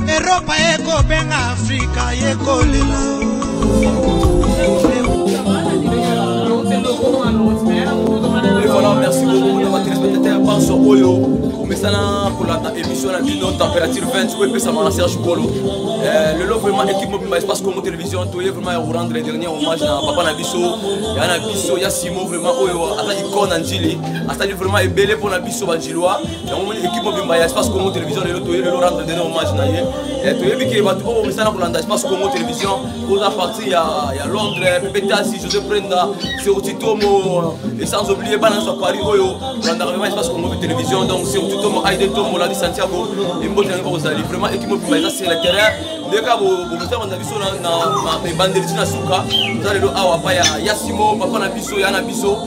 eropa ekobenga afrika yekolela Et voilà, merci beaucoup na batelespectateur banso oyo omesana kolanda émission na bino température 20 oyo epesama na serge kolo lelo vraiment équipe mobimba espace congo télévision toye vraiment ya korendre dernier hommage na papa na biso ya na biso ya simo vraiment oyo aza icone na njili asali vraiment ebele mpo na biso banjilois yango moni ekipe mobimba ya espace congo télévision lelo toye lelo rendre dene hommage na ye eh, toyebi ke bato oyo misala kolanda espace congo télévision oza parti ya londres pepe tasi josé prenda serotitomo et sans oublie bana nyonso ya paris oyo olandaka vraimen espace congo télévision donc serotitomo aide tomo ladi santiago emboti yango kozali vraiment ekipe mobimba eza sur le terrain nde kaka bokotanga na biso na ebandeli ti na suka oza lelo awa pa ya simo papa na biso ya na biso